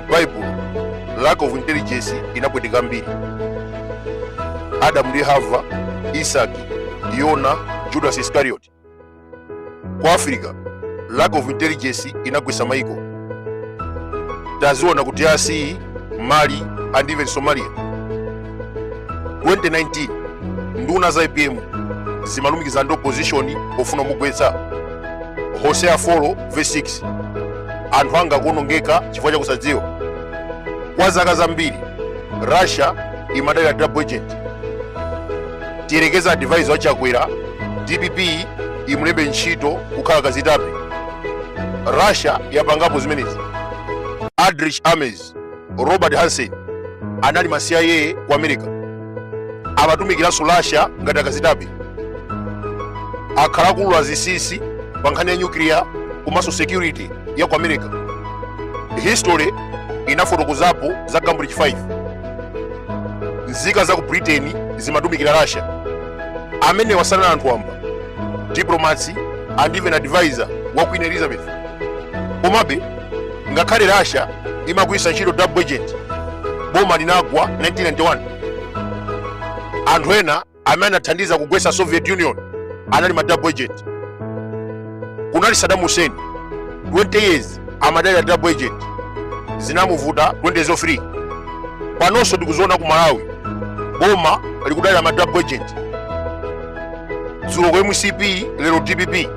mbaibulo lack of intelligence inapweteka ambiri adamu ndi hava isaki yona judas iscariot ku africa lack of intelligence inagwesa maiko taziona ku drc mali and even somalia 2019 nduna za apm zimalumikiza ndi opposition ofuna kumugwetsa hosea 4 verse 6 anthu anga akuonongeka chifukwa chakusadziwa kwa zaka zambiri russia imadalira double agent tiyerekeza advisor wa chakwera dpp imulembe ntchito kukhala kazitape russia yapangapo zimenezi aldrich ames robert hanssen anali ma cia ku america amatumikiranso russia ngati akazitape akhala akulula zinsinsi pa nkhani ya nyukiliya komanso security ya ku america history inafotokozapo za cambridge 5 nzika za ku britain zimatumikira russia amenewa sanali anthu wamba diplomats and even advisor wa queen elizabeth komabe ngakhale russia imagwiritsa ntchito double agent boma linagwa 1991 anthu ena amene anathandiza kugwetsa soviet union anali ma double agent kunali saddam hussein 20 years amadalira double agent zinamuvuta 2003 panonso tikuziona ku malawi boma likudalira ma double agent dzulo ku mcp lero dpp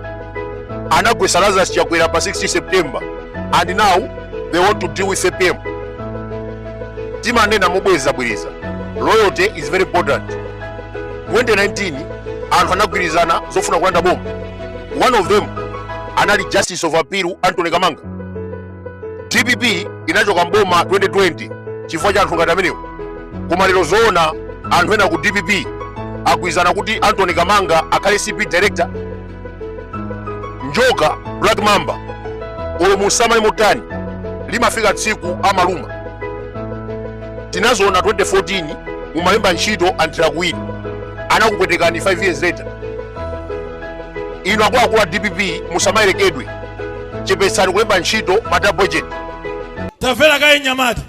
anagwesa Lazarus Chakwera pa 16 September and now they want to deal with APM timanena mobwezabwereza loyalty is very important 2019 anthu anagwirizana zofuna kulanda boma one of them anali justice of appeal Anthony Kamanga dpp inachoka mboma 2020 chifukwa cha anthu ngati amenewo koma lero zoona anthu ena ku dpp agwirizana kuti Anthony Kamanga akhale acb director njoka black mamba olo muisamale motani limafika tsiku amaluma tinaziona 2014 mumalemba ntchito anthira kuwiri anakupwetekani 5 years later inu akuluakulu a dpp musamayerekedwe chepetsani kulemba ntchito ma double agent tamvera kaye nyamata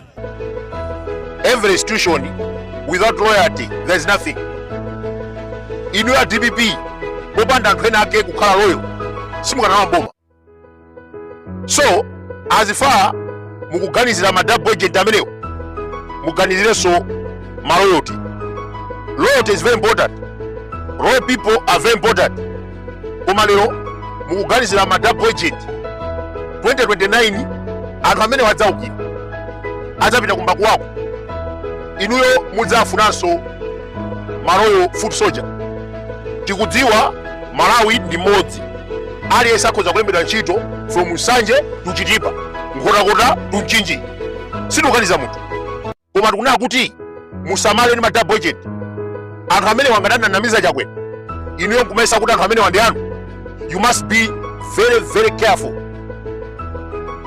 every institution without loyalty there is nothing inu a dpp popanda anthu ena ake kukhala loyal simukanalowa mboma so as far mukuganizira ma double agent amenewo muganizirenso ma loyalty loyalty is very important loyal people are very important koma lero mukuganizira ma double agent 2029 anthu amene adzaukira adzapita kumbali kwawo inuyo mudzafunanso ma loyal foot soldier tikudziwa malawi ndi mmodzi aliyense akhoza kulembedwa ntchito from nsanje to chitipa nkhotakota to mchinji sitikukaniza munthu koma tikunena kuti musamale ndi ma double agent anthu amene angadananamiza chakwera inuyo nkumayesa kuti anthu amenewa ndi anu you must be very very careful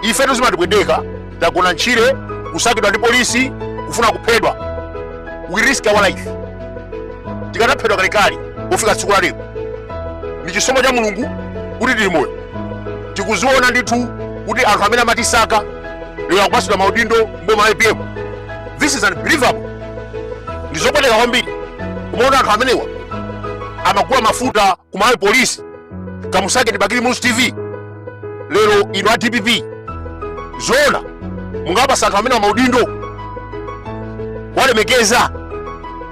ife tizimatipweteka tagona ntchire kusakidwa ndi polisi kufuna kuphedwa we risk our life tikanaphedwa kalekale kufika tsiku la lero ndi chisomo cha mulungu kuti tili moyo tikuziona ndithu kuti anthu amene amatisaka lero akupatsidwa maudindo mboma la apm this is unbelievable ndi zopweteka kwambiri kumaona anthu amenewa amagula mafuta ku malawi polisi kamusakeni bakili muluzi tv lero inu a dpp zoona mukawapatsa anthu amenewa maudindo kuwalemekeza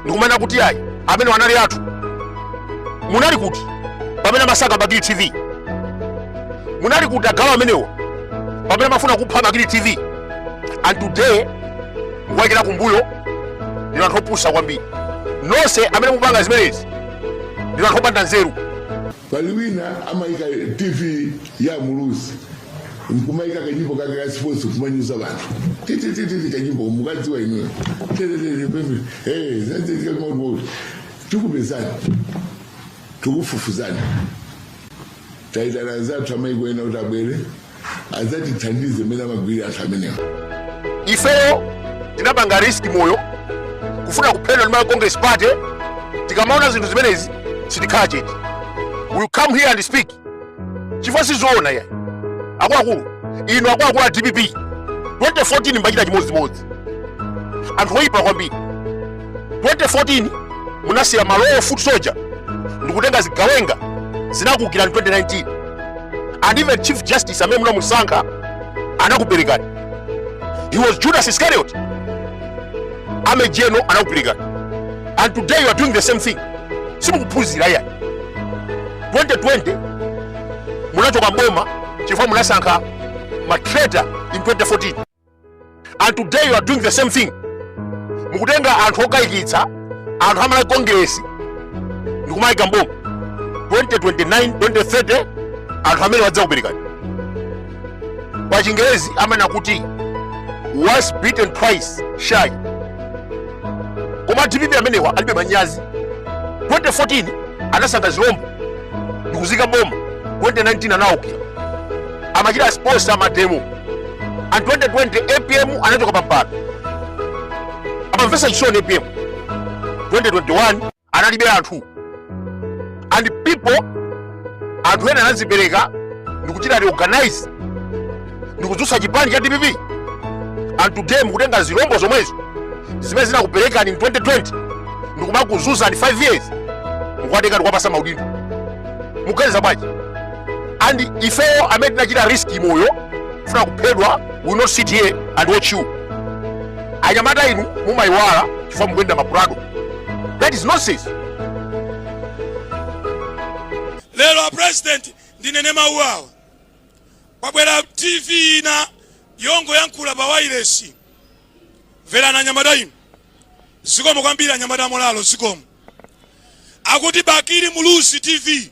ndikumanena kuti ayi amenewa anali athu munali kuti pamene amasaka bakili tv munali kuti agalu amenewo pamene amafuna kupha bakili tv and today mukuwaikira kumbuyo ndinu anthu opusa kwambiri nonse amene mukupanga zimenezi ndinu anthu opanda nzeru pali wina amayika tv ya muluzi nkumayika kanyimbo kake ka sports kumanyoza anthu titititi kanyimbo mukadziwa inuyo tikupezani tikufufuzani Taitana anzathu amaiko ena kuti abwere adzatithandize mmene amagwirira anthu amenewa. ifeyo tinapanga risk moyo kufuna kuphedwa ndi malawi congress party tikamaona zinthu zimenezi sitikhala chete we come here and speak chifukwa sizoona ayi akuluakulu inu akuluakulu a dpp 2014 munachita chimodzimodzi anthu oyipa kwambiri 2014 munasiya ma loyal foot soldier ndikutenga zigawenga zinakuukirani 2019 and even chief justice amene munamusankha anakuperekani he was judas iscariot amene ujeno anakuperekani and today you are doing the same thing simukuphunzira iyayi 2020 munachoka mboma chifukwa munasankha ma traitor in 2014 and today you are doing the same thing mukutenga anthu okayikitsa anthu amalawi congress ndikumayika mboma 2029 2030 anthu amenewa adzakuperekani pa chingerezi amanena kuti once beaten twice shy koma dpp amenewa alibe manyazi 2014 anasankha zilombo ndikuzika mboma 2019 anawukira amachita sponsor amademo and 2020 apm anachoka pampando ankamvesa chisoni apm 2021 analibe anthu and people anthu ena anazipereka ndikuchita reorganize ndikudzutsa chipani cha dpp and today mukutenga zilombo zomwezo zimene zinakuperekani in 2020 ndikumakuzuzani 5 years mukuwatenga ndikuwapasa maudindo muganiza bwanji and ifeyo amene tinachita risk moyo kufuna kuphedwa we will not sit here and watch you anyamata inu mumayiwala chifukwa mukuyenda mapurado that is nonsense lero a president ndinene mawu awa kwabwera tv ina yongoyankhula pa wailesi mverani anyamata inu zikomo kwambiri anyamata a molalo zikomo akuti bakili muluzi tv